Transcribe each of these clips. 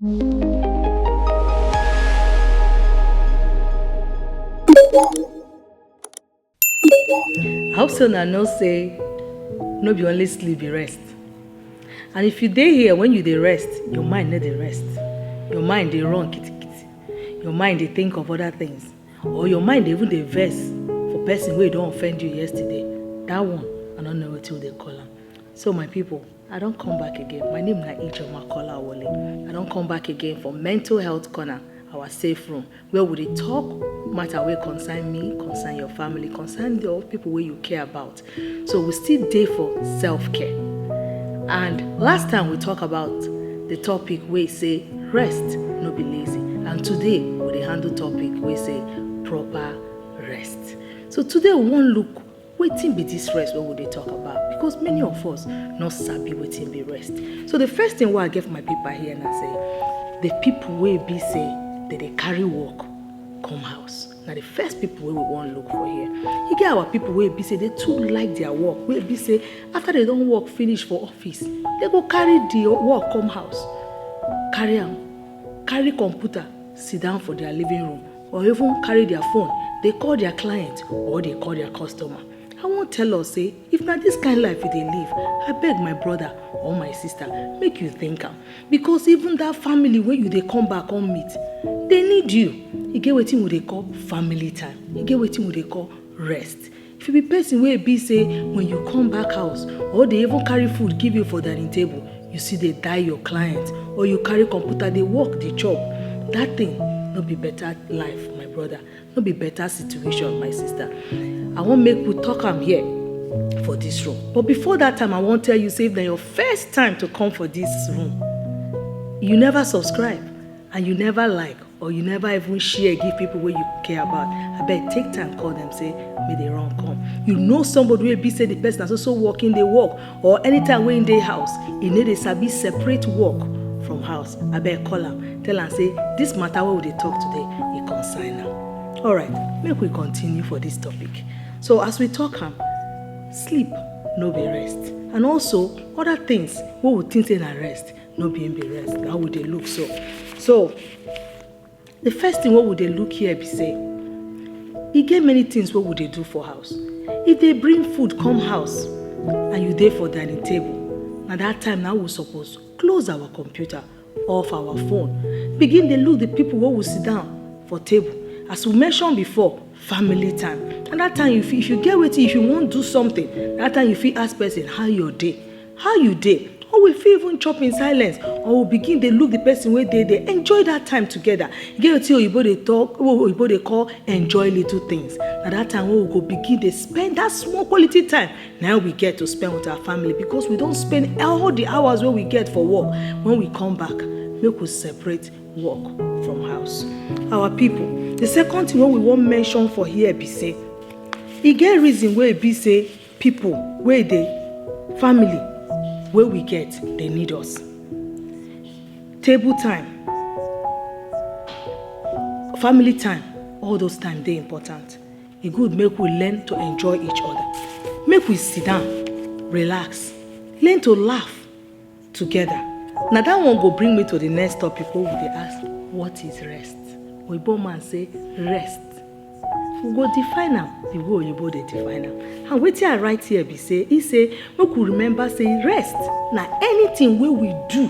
I hope so now no say no be only sleep be rest. And if you dey here when you dey rest, your mind no dey rest. Your mind dey run kitty kitty. Your mind dey think of other things. Or your mind dey even dey vex for person wey don offend you yesterday. That one, I no know wetin we dey call am. So my people, I don come back again. My name na Ijoma Kola Wole. I don come back again for Mental Health Corner, our safe room, where we dey talk matter wey concern me, concern your family, concern the people wey you care about. So we still dey for self-care. And last time we talk about the topic wey say rest no be lazy. And today we dey handle topic wey say proper rest. So today we wan look wetin be this rest wey we dey talk about because many of us no sabi wetin be rest so the first thing wey i get for my paper here na say the people wey be say they dey carry work come house na the first people wey we wan look for here e get our people wey be say they too like their work wey be say after they don work finish for office they go carry the work come house carry am carry computer sit down for their living room or even carry their phone dey call their client or dey call their customer i wan tell us say if na this kind life you dey live abeg my brother or my sister make you think am because even that family wey you dey come back come meet dey need you e get wetin we dey call family time e get wetin we dey call rest If you be person wey be say when you come back house or they even carry food give you for dining table, you see they die your client or you carry computer they work the chop, that thing no be better life my brother, no be better situation my sister. I wan make we talk am here for this room. But before that time, I wan tell you say if na your first time to come for this room, you never subscribe. and you never like or you never even share give people wey you care about abeg take time call them say make they run come you know somebody wey be say the person na so so work him dey work or anytime wey him dey house he no dey sabi separate work from house abeg call am tell am say this matter wey we dey talk today e concern am alright make we continue for this topic so as we talk am sleep no be rest and also other things wey we think say na rest no be him be rest na we dey look so so the first thing wey we dey look here be say e get many things wey we dey do for house if they bring food come house and you dey for dining table na that time na we suppose close our computer off our phone begin dey look the people wey we sit down for table as we mention before family time and that time if you, if you get wetin if you wan do something that time you fit ask person how your day how you dey or we fit even chop in silence or we begin dey look the person wey dey there enjoy that time together e get wetin oyibo dey talk oyibo dey call enjoy little things na that time wey we go begin dey spend that small quality time na we get to spend with our family because we don spend all the hours wey we get for work when we come back make we separate work from house our people the second thing wey we wan mention for here be say e get reason wey e be say Pipu wey dey family wey we get dey need us. Table time, family time all those time dey important. E good make we learn to enjoy each other, make we sit down relax, learn to laugh. together na that one go bring me to the next topic wey we dey ask what is rest oyibo man say rest we go define am the way oyibo dey define am and wetin i write here be say he say make we remember say rest na anything wey we do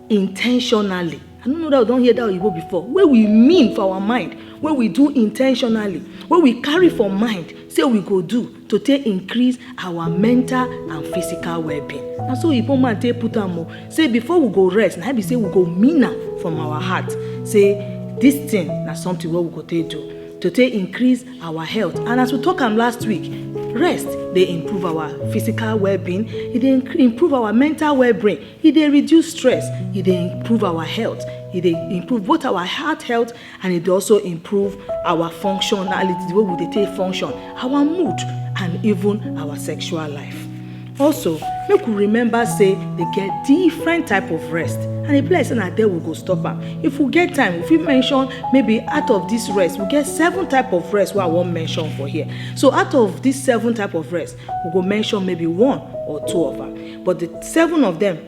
intentionally I don't know that we don't hear that you go before. Where we mean for our mind, where we do intentionally, where we carry for mind, say we go do to take increase our mental and physical well-being. And so Igbo man take put am o. Say before we go rest, na be say we go mean am from our heart. Say this thing na something wey we go take do to take increase our health. And as we talk am last week, rest dey improve our physical well-being, e dey improve our mental well-being. e dey reduce stress e dey improve our health e dey improve both our heart health and e dey also improve our functionality the way we dey take function our mood and even our sexual life also make we remember say dey get different type of rest and e be like say na there we go stop am if we get time we fit mention maybe out of this rest we get seven type of rest wey i wan mention for here so out of this seven type of rest we go mention maybe one or two of am but the seven of them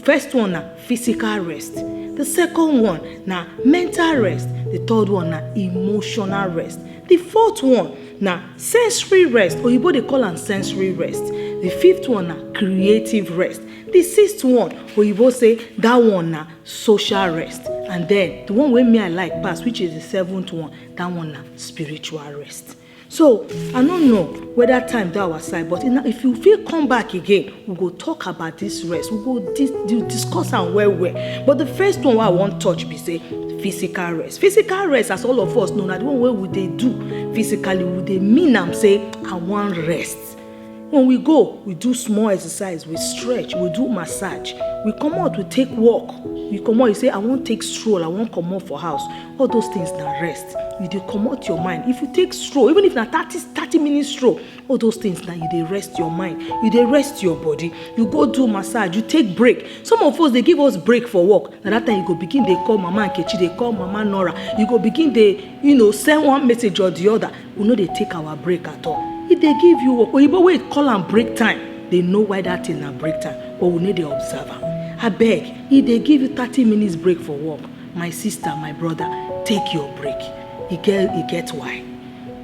first one na physical rest the second one na mental rest the third one na emotional rest the fourth one na sensory rest oyibo dey call am sensory rest the fifth one na creative rest the sixth one oyibo say that one na social rest and then the one wey me i like pass which is the seventh one that one na spiritual rest so i no know whether time dey our side but if you fit come back again we go talk about this rest we go dis discuss am well well but the first one wey i wan touch be say physical rest physical rest as all of us know na the one wey we dey do physically we dey mean am say i wan rest When we go, we do small exercise, we stretch, we do massage. We come out, we take walk. We come out, you say, I won't take stroll, I won't come out for house. All those things now rest. You dey come out your mind. If you take stroll, even if na 30, 30 minute stroll, all those things now you dey rest your mind. You dey rest your body. You go do massage, you take break. Some of us, they give us break for work. And that time you go begin, they call Mama Nkechi, they call Mama Nora. You go begin, they, you know, send one message or the other. we no dey take our break at all if they give you work oyibo wey call am break time they know why that thing na break time but we no dey observe am abeg if they give you thirty minutes break for work my sister my brother take your break e get e get why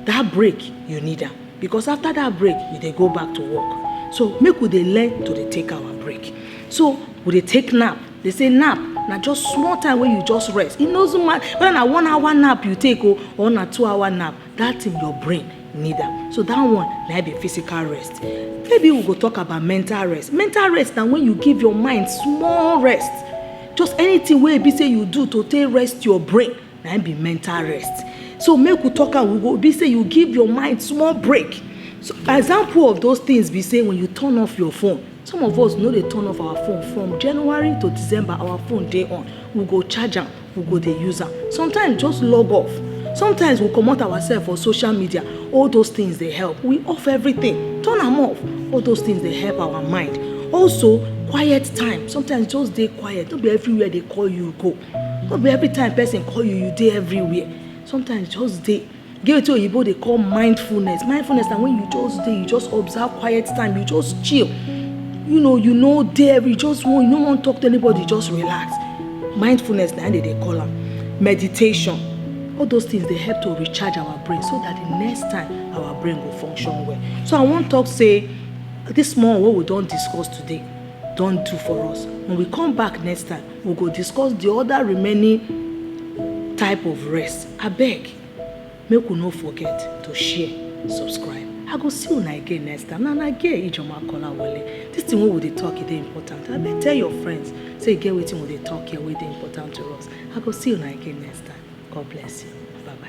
that break you need am because after that break you dey go back to work so make we dey learn to dey take our break so we dey take nap They say nap na just small time wey you just rest. E no zoom matter whether na one hour nap you take o or na two hour nap, that thing your brain need am. So that one na be physical rest. Maybe we go talk about mental rest. Mental rest na when you give your mind small rest. Just anything wey e be say you do to take rest your brain na be mental rest. So make we talk am, we go be say you give your mind small break. So example of those things be say when you turn off your phone some of us no dey turn off our phone from january to december our phone dey on we go charge am we go dey use am sometimes just log off sometimes we comot ourselves for social media all those things dey help we off everything turn am off all those things dey help our mind also quiet time sometimes just dey quiet no be everywhere dey call you go no be every time person call you you dey everywhere sometimes just dey Get wetin oyibo dey call mindfulness. Mindfulness na when you just dey, you just observe quiet time, you just chill. You know, you no dey every, you just wan, you no wan talk to anybody, just relax. Mindfulness na im dem dey call am. Meditation. All those things dey help to recharge our brain so that the next time our brain go function well. So I wan talk say this small wey we don discuss today don do for us. When we come back next time, We go discuss the other remaining type of rest. I beg, make we no forget to share, subscribe. I go see una again next time. Na na get Ijoma Kolawole. This thing wey we dey talk e dey important. I beg tell your friends say e get wetin we dey talk here wey dey important to us. I go see una again next time. God bless you. Bye bye.